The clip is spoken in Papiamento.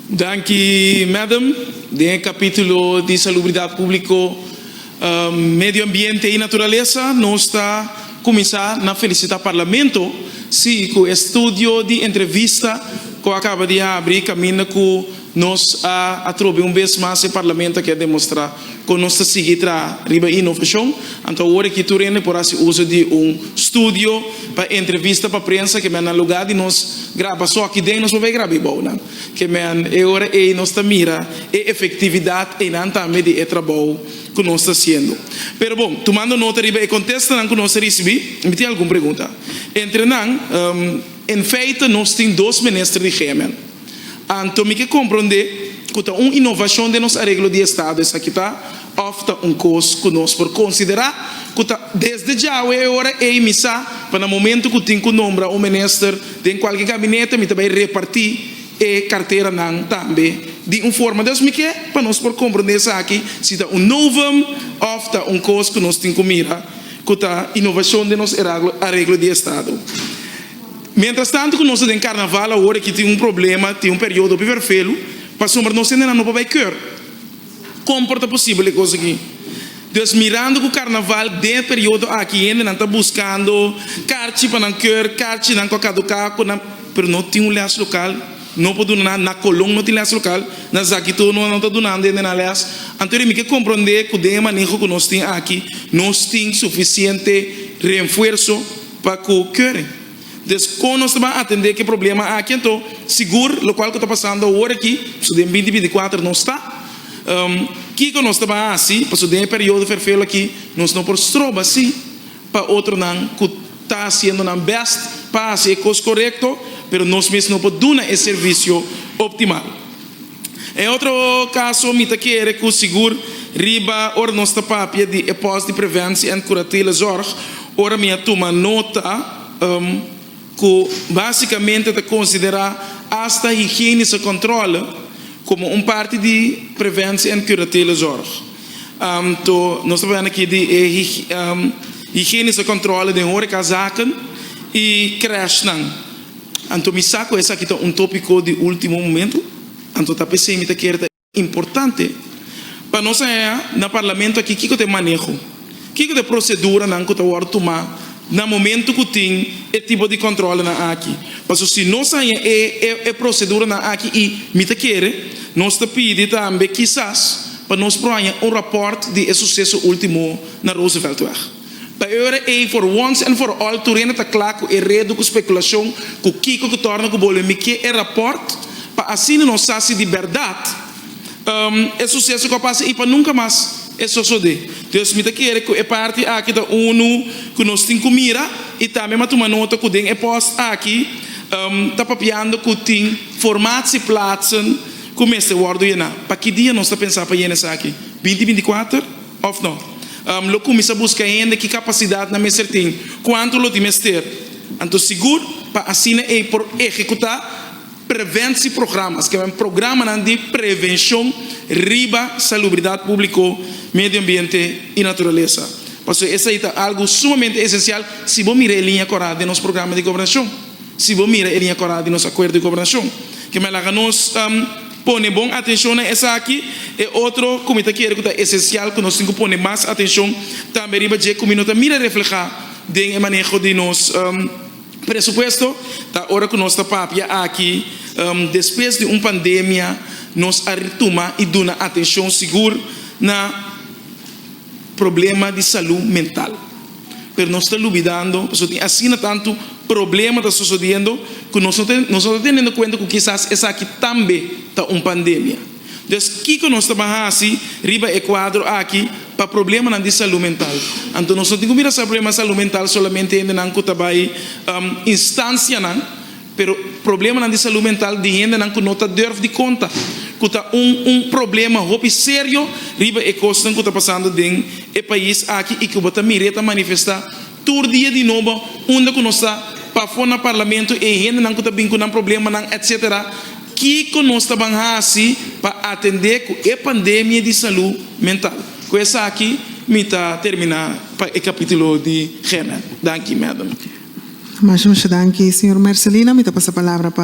Danki, Madam. Den e kapítulo di Salubridat Públiko, Medio Ambiente i Naturalesa, nos ta kuminsá na felisitá Parlamento si ku e studio di entrevista ku a kaba di habri kaminda ku Nos a atrobe un bes mas e Parlamento a kier demostrá kon nos ta sigui traha riba inovashon. Anto awor aki tur hende por hasi uso di un studio pa entrevista pa prensa kemey na lugá di nos graba asoki den nos por bai graba ebou nan kemey. E ora ei nos ta mira e efektividat einan tambe di e trabou ku nos ta hasiendo. Pero bon, tumando nota riba e kontestanan ku nos a risibí, mi tin algun pregunta. Entre nan, en feite nos tin dos minister di gmn. Anto mi ke komprondé ku ta un inovashon den nos areglo di estado esaki ta òf ta un kos ku nos por konsiderá ku ta desde djawe e ora ei mi sa pa na momentu ku tin ku nombra un minister den kualke gabinete mi ta bai repartí e karteranan tambe di un forma dus mi ke pa nos por komprondé esaki si ta un novum òf ta un kos ku nos tin ku mira ku ta inovashon den nos areglo di estado. Mientras tanto cu nos ta den carnaval awor aki tin un problema, tin un periodo hopi vervelu pasobra nos hendenan no pa bay keur. Con por ta posibel e cos aki? Dus mirando cu carnaval den e periodo aki hendenan ta buscando carchi pa nan keur, carchinan cu a caduca, cu nan pero no tin un les local, no por duna nan, na Colon no tin les local, na Zakito no, no ta dunando hendenan les, anto rin mi ke comprende cu den e maneho cu nos tin aki nos tin suficiente renfuerzo, Pa ku Curry Desco nos ta ban atendé ke problema aki anto sigur lokual ku ta pasando awor aki pasobra den binti binti kuater no sta kiko nos ta ban hasi pasobra den e periodo ferfelu aki nos no por stroba si pa otronan ku ta hasiendo nan bèst pa hasi e kos korekto pero nos mes no por duna e servisio optimal. E otro caso mi ta kere cu sigur riba ora nos ta papia di e pos di preventie en curatele zorg ora mi a tuma nota cu basicamente ta considera hasta higienice controle como un parti di preventie en curatele zorg to nos ta papia aki di e higienice controle den horeca zaken y crèshnan. Anto mi sa ku esaki ta un topiko di ultimo momento, anto ta p'esei mi ta kere ta importante pa nos a haña na Parlamento aki kiko ta e maneho, kiko ta e proseduranan ku ta wòrdu tumá na momento ku tin e tipo di kòntròlenan aki. Pasobra si nos a haña e proseduranan aki i mi ta kere nos ta pidi tambe kisas pa nos por haña un ròpòrt di e suseso ultimo na Rooseveltweg. Pa e ora ei for once and for all Turena ta kla ku e redu ku spekulashon ku kiko ku tòrna ku bolbe mikié e rapòrt pa asina nos sa si di bèrdat e suseso ku a pasa i pa nunka mas e sosodé. Dios mi ta kere ku e parti aki ta unu ku nos tin ku mira i tambe mi a tuma nota ku den e pòs aki ta papiando ku tin formatsi platsen ku mester wòrdu yená. Pa ki dia nos ta pensá pa yena esaki? Binti binti kuater? Of no. Lo cuminsa busca hende ki capacidad nan mester tin, cuanto lo tin mester, anto sigur, pa asina ey por ehecuta preventie programas, ke men programanan di prevencion riba salubridad publico, medio ambiente y naturalesa. Pasobra esey ta algo sumamente esencial si bo mira e linea cora den nos programa di gobernacion, si bo mira e linea cora di nos acuerdo di gobernacion. Ke men laga nos. Pone bon atencion na esaki. E otro cu mi ta kere cu ta esencial cu nos tin cu pone mas atencion tambe riba dje cu mi no ta mira refleha den e maneho di nos presupuesto, ta ora cu nos ta papia aki, despues di un pandemia nos a tuma y duna atencion sigur na problema di salud mental. pero nos ta lubidando pasobra tin asina tantu problema ta sosodiendo ku nos no ta tenendo kuenta ku kisas esaki tambe ta un pandemia. Entonces kiko nos ta ban hasi riba e kuadro aki pa problemanan di salú mental? Anto nos no tin ku mira sa problema di salú mental solamente hendenan ku ta bai instansianan, Pero problemanan di salú mental di hendenan ku no ta durf di konta ku ta un un problema hopi serio riba e kosnan ku ta pasando den e pais aki i ku bo ta mir'é ta manifestá tur dia di nobo unda ku nos ta pafó na parlamento e hendenan ku ta bin ku nan problemanan etc. Kiko nos ta ban hasi pa atendé ku e pandemia di salú mental? Ku esaki mi ta terminá. pa e capitulo di Gena. Danki, Madam. Masha, masha danki, Señor Mercelina. Mi ta pasa palabra pa